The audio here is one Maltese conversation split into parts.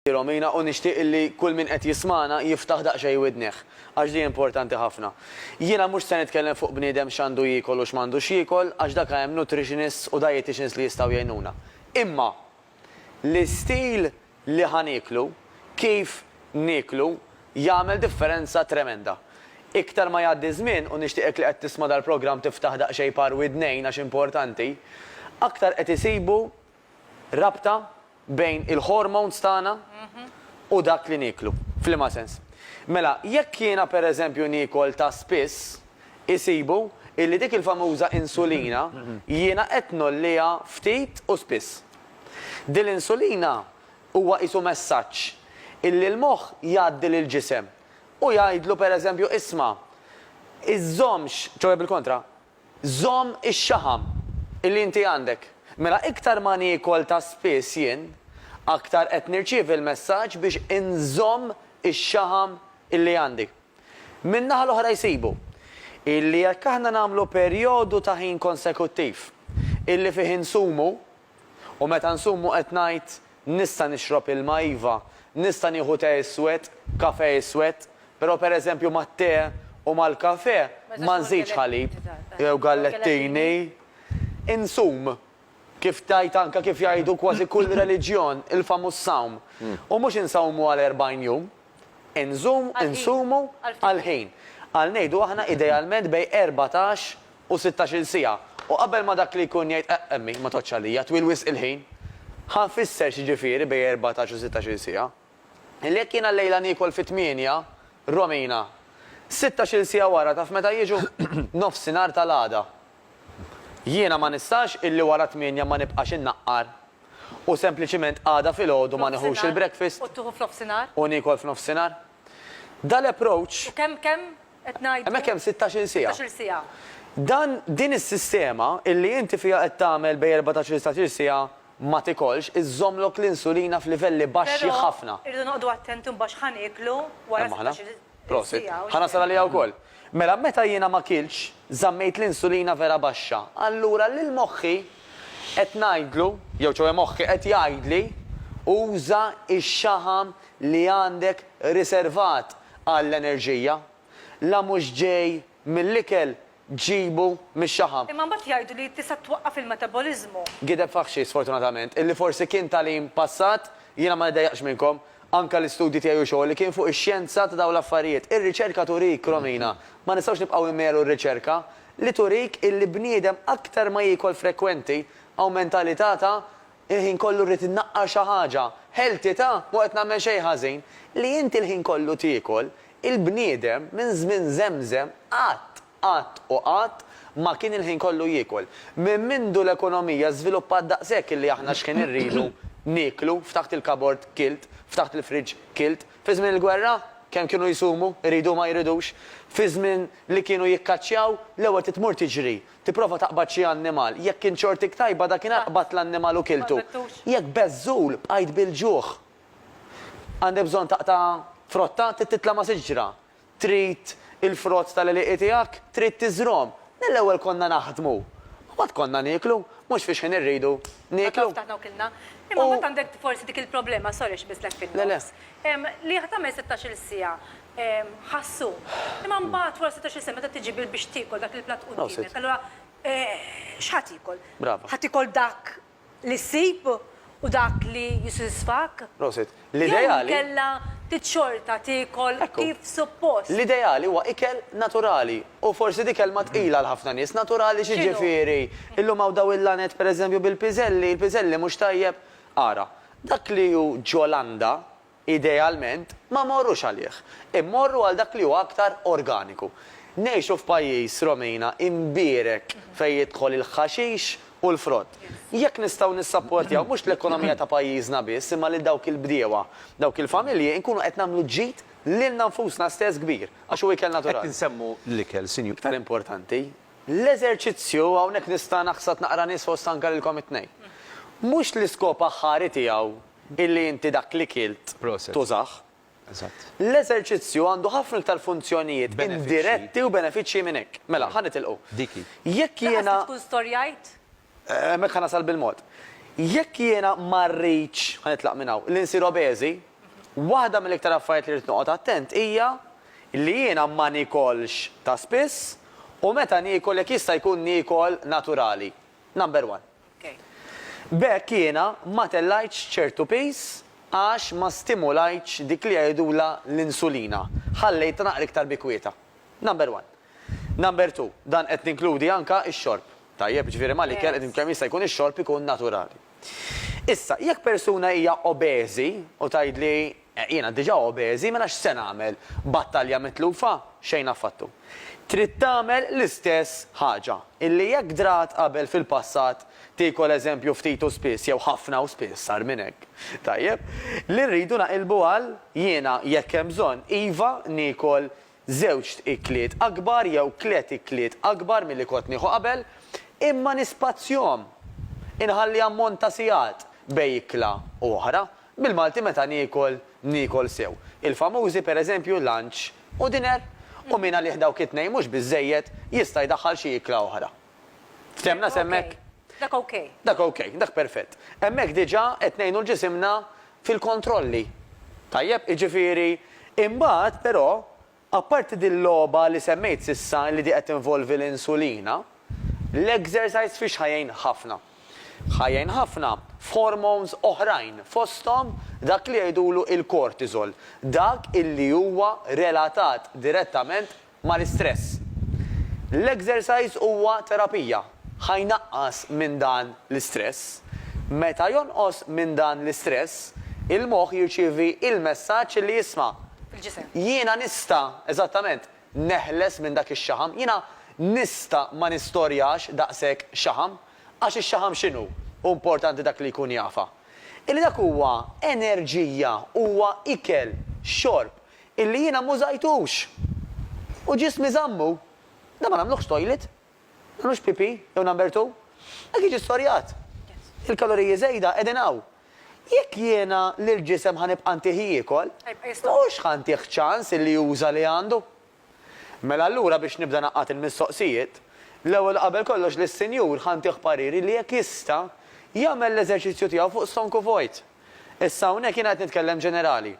Hi Romina u nixtieq illi kull min qed jismagħna jiftaħ daqsxejn widnih, għax di importanti ħafna. Jiena mhux se nitkellem fuq bniedem x'għandu jiekol u x'm'għandux jiekol għax dak hemm nutritionists u dieticians li jistgħu jgħinuna. Imma l-istil li ħa nieklu, kif nieklu jagħmel differenza tremenda. Iktar ma jgħaddi ż-żmien u nixtieqek li qed tisma' dal-programm tiftaħ daqsxejn par widnejn għax importanti, aktar qed isibu Rabta bejn il-hormones tagħna u dak li nieklu. F'liema sens? Mela, jekk jiena pereżempju niekol ta' spiss, isibu illi dik il-famuża insulina jiena qed ngħolliha ftit u spiss. Din l-insulina huwa qisu messaġġ illi l-moħħ jgħaddi lill-ġisem u jgħidlu pereżempju isma' iżżommx, ċoe bil-kontra, Żomm ix-xaħam li inti għandek. Mela iktar ma niekol ta' spiss jien, aktar qed nirċievi l-messaġġ biex inżomm ix-xaħam li għandi. Min-naħa l-oħra jsibu, illi jekk aħna nagħmlu perjodu ta' ħin konsekuttiv, illi fih insumu, U meta nsum u qed ngħid, Nista' nixrob ilma, iva, nista' nieħu te iswed, kafè iswed, però pereżempju mat-te u mal-kafè ma nżidx ħalib jew gallettini. Insum, kif tgħid anke kif jgħidu kważi kull reliġjon, il-famuż sawm. U mhux insawmu għal erbgħin jum. Inżomm, insumu, għall-ħin. Għal ngħidu aħna idealment bejn erbatax u sittax-il siegħa. U qabel ma dak li jkun jgħid eqq emmi, ma tgħoddx għalija, twil wisq il-ħin. Ħa nfisser x'jiġifieri bejn erbatax u sittax-il siegħa. Li jekk jiena llejla niekol fit-tmienja, Romina, sittax-il siegħa wara taf meta jiġu? Nofsinhar tal-għada. Jiena ma nistax illi wara tmienja ma nibqax innaqqar u sempliċiment għada filgħodu ma nieħux il-breakfast u niekol f'nofsinhar. Da l-approach. U kemm kemm qed ngħidu? Hemmhekk hemm sittax-il siegħa. Dan din is-sistema illi inti fiha qed tagħmel bejn erbatax-il satax-il siegħa ma tikolx iżżommlok l-insulina f'livelli baxxi ħafna. Però irridu noqogħdu attenti mbagħad x'ħa nieklu wara sittax-il. Prosit. Ħa nasal għaliha wkoll. Mela meta jiena ma kiltx, żammejt l-insulina vera baxxa. Allura lil moħħi qed ngħidlu, jew ċoe moħħi qed jgħidli, uża x-xaħam li għandek riservat għall-enerġija. La mhux ġej mill-ikel ġġibu mix-xaħam. Imma mbagħad jgħidu li tista' twaqqaf il-metaboliżmu. Gideb faħxi, sfortunatament, illi forsi kien tagħlim passat, jiena ma niddejjaqx minnkom, anke l-istudji tiegħi u xogħli kien fuq ix-xjenza ta' dawn l-affarijiet. Ir-riċerka turik, Romina, ma nistgħux nibqgħu immelu r-riċerka, li turik illi bniedem aktar ma jiekol frekwenti, awment alità ta' Il-ħin kollu rrid innaqqar xi ħaġa. Healthy ta', mhu qed nagħmel xejn ħażin. Li inti l-ħin kollu tiekol, il-bniedem minn żmien żemżem qatt, qatt u qatt ma kien il-ħin kollu jiekol. Minn mindu l-ekonomija żviluppat daqshekk illi aħna x'ħin irridu nieklu, ftaħt il-kabord kilt, ftaħt il-fridge kilt. Fi żmien il-gwerra, kemm kienu jsumu, iridu u ma jridux. Fi żmien li kienu jikkaċċjaw, l-ewwel trid tmur tiġri. Tipprova taqbad xi annimal. Jekk kien xortik tajba, dakinhar qbadt l-annimal u kiltu. Jekk beżżul, bqajt bil-ġuħ. Għandek bżonn taqta' frotta? Trid titla' ma' siġra? Trid il-frott tal-għelieqi tiegħek? Trid tiżrgħhom? Mill-ewwel konna naħdmu. Mbagħad konna nieklu. Mhux fix-xħin irridu nieklu. Għatafna u kilna. Imma mbagħad għandek forsi dik il-problema, sorry xbislek fin-nofs, li tagħmel sittax-il siegħa. ħassu. Imma mbagħad wara setax-il sena meta tiġi bil biex tiekol dak il-platt quddiemek, allura xi ħa tiekol? Brava. Ħa tiekol dak li ssib u dak li jissodisfak? Prosit. L-ideali. Jew inkella trid xorta tiekol kif suppost? L-ideali huwa ikel naturali u forsi di kelma tqila għal ħafna nies. Naturali x'jiġifieri? Illum hawn dawn il-laned pereżempju bil-piżelli, il-piżelli mhux tajjeb? Ara, dak li hu ġo landa, Idealment, ma mmorrux għalih. Immorru għal dak li huwa aktar organiku. Ngħixu f'pajjiż, Romina, imbierek fejn jidħol il-ħaxix u l-frott. Jekk nistgħu nissapportjaw mhux l-ekonomija ta' pajjiżna biss imma lil dawk il-bdiewa, dawk il-familji, inkunu qed nagħmlu ġid lilna nfusna stess kbir, għax hu ikel naturali. Qed insemmu l-ikel, Sinjur. Iktar importanti, l-eżerċizzju, hawnhekk nista' naħsad naqra nies fost anke lilkom it-tnejn. Mhux l-iskop aħħari tiegħu illi inti dak li kilt tużah. L-eżerċizzju għandu ħafna iktar funzjonijiet indiretti u benefiċċji minn hekk. Mela, ħa nitilqu. Jekk jiena. Laqas li tkun storjajt. Hemmhekk ħa nasal bil-mod. Jekk jiena ma rridx, ħa nitlaq minn hawn, li nsir obeżi, waħda mill-iktar affarijiet li rrid noqgħod attent hija li jiena ma niekolx ta' spiss u meta niekol jekk jista' jkun niekol naturali. Number one. B'hekk jiena ma tellgħitx ċertu piż għax ma stimulajtx dik li jgħidulha l-insulina, ħallejtha naqra iktar bi kwietha. Number one. Number two, dan qed ninkludi anke x-xorb. Tajjeb, jiġifieri mal-ikel qed kemm jista' jkun ix-xorb ikun naturali. Issa, jekk persuna hija obeżi u tgħidli Jiena diġà obeżi, mela x'se nagħmel? Battalja mitlufa? Xejn affattu. Trid tagħmel l-istess ħaġa, illi jekk drat qabel fil-passat, tiekol eżempju ftit u spiss jew ħafna u spiss agħar minn hekk. Tajjeb. Li rridu naqilbu għal, jiena, jekk hemm bżonn, iva, niekol żewġt ikliet akbar jew tliet ikliet akbar milli kont nieħu qabel, imma nispazjhom. Inħalli ammont ta' sigħat bej ikla u oħra, Bil-Malti meta niekol, niekol sew. Il-famużi, per eżempju, lunch u dinner. U min għalih dawk it-tnejn mhux biżżejjed, jista' jdaħħal xi ikla oħra. Fthemna s'hemmhekk? Dak ok. Dak ok, dak perfett. Hemmhekk diġà qed ngħinu 'l ġisimna fil-kontrolli. Tajjeb? Jiġifieri, imbagħad, però, Apparti dil-logħba li semmejt s'issa li di qed tinvolvi l-insulina, l-exercise fiex ħa jgħin ħafna? Ħa jgħin ħafna f'hormones oħrajn fosthom dak li jgħidulu l-cortisol, dak illi huwa relatat direttament mal-istress. L-exercise huwa terapija. Ħa jnaqqas minn dan l-istress. Meta jonqos minn dan l-istress, il-moħħ jirċievi l-messaġġ li jisma', Il-ġisem. Jiena nista', eżattament, neħles minn dak ix-xaħam. Jiena nista' ma nistorjax daqshekk xaħam. Għax ix-xaħam x'inhu? Hu importanti dak li jkun jafha. Illi dak huwa enerġija, huwa ikel, xorb, illi jiena m'użajtux. U ġismi żammu. Dan ma nagħmluhx toilet. Mhux PP jew Number Two. Hekk jiġi storjat. Il-kaloriji żejda qegħdin hawn. Jekk jiena lill-ġisem ħa nibqa' ntih jiekol, mhux ħa ntih ċans illi juża li għandu. Mela allura biex nibda ngħaqqad il-mistoqsijiet, l-ewwel u qabel kollox lis-Sinjur ħa ntih pariri li jekk jista' jagħmel l-eżerċizzju tiegħu fuq stonku vojt. Issa hawnhekk jiena qed nitkellem ġenerali.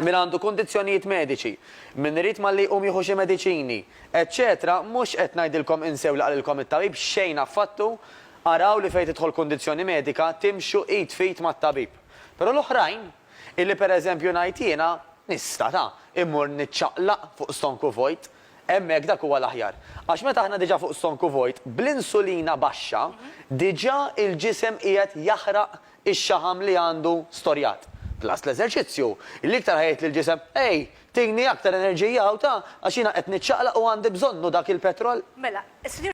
min għandu kundizzjonijiet mediċi, min irid malli jqum jieħu xi mediċini, eċċetera mhux qed ngħidilkom insew li qalilkom it-tabib, xejn affattu, araw li fejn tidħol kundizzjoni medika timxu id f'id mat-tabib. Però l-oħrajn, illi pereżempju ngħid jiena, nista' ta', immur niċċaqlaq fuq stonku vojt, hemmhekk dak huwa l-aħjar. Għax meta aħna diġà fuq stonku vojt, bl-insulina baxxa, diġà il-ġisem qiegħed jaħraq ix-xaħam li għandu storjat. Plus l-eżerċizzju, li iktar ħa jgħid lill-ġisem, Ej, tini aktar enerġija hawn ta, għax jiena qed niċċaqlaq u għandi bżonnu dak il-petrol. Mela, s-Sinjura.